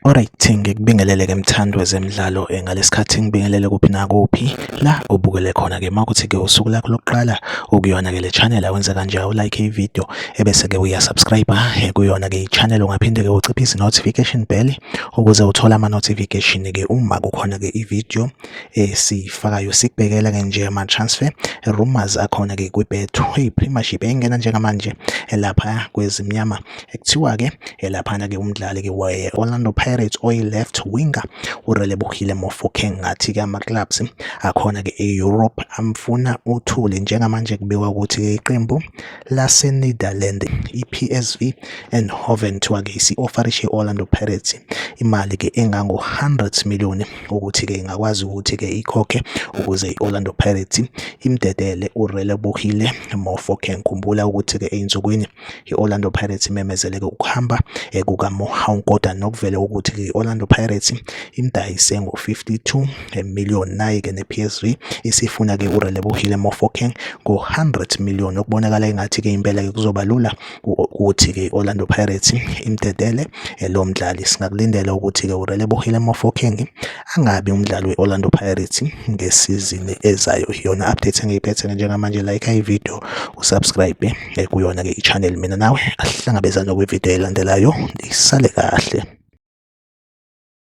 Alright, ngikubingelele ke mthandi wezemidlalo eh, ngalesikhathi ngibingelele kuphi nakuphi la obukele khona ke mawukuthi ke usuku lakho lokuqala ukuyona ke le channel awenze kanje u like i video ebese-ke uyasubscribe eh, kuyona-ke i-channel ungaphinde-ke uciphe izi-notification bell ukuze uthole ama-notification-ke uma kukhona-ke i-video esiyifakayo sikubhekela-ke nje ama-transfer rumors akhona-ke kwibethu i-premiership engena njengamanje lapha kwezimnyama kuthiwa-ke laphana-ke umdlali-ke we-orlando pirates oyi-left winger urelebohile mofokeng ngathi-ke ama-clubs akhona-ke e-europe amfuna uthuli njengamanje kubikwa ukuthi iqembu laseNetherlands iPSV Eindhoven kuthiwa ke isi-ofarishe i-Orlando Pirates imali ke engango-100 million ukuthi ke ingakwazi ukuthi ke ikhokhe ukuze i-Orlando Pirates imdedele uRelebohile Mofokeng. Khumbula ukuthi ke eyinsukwini i-Orlando Pirates imemezeleke ukuhamba eh, kukaMohaunkoda nokuvele ukuthi ke i-Orlando Pirates imdayise ngo-52 million naye ke nePSV isifuna ke uRelebohile Mofokeng ngo 100 million okubonakala engathi ke impela ke kuzoba lula ukuthi ke Orlando Pirates imdedele eh, lo mdlali singakulindela ukuthi ke uRelebohile Mofokeng angabi umdlali weOrlando Pirates ngesizini ezayo yona update engiyiphethe njengamanje like i video usubscribe eh, kuyona ke ichannel mina nawe ahlangabezana kwi video elandelayo isale kahle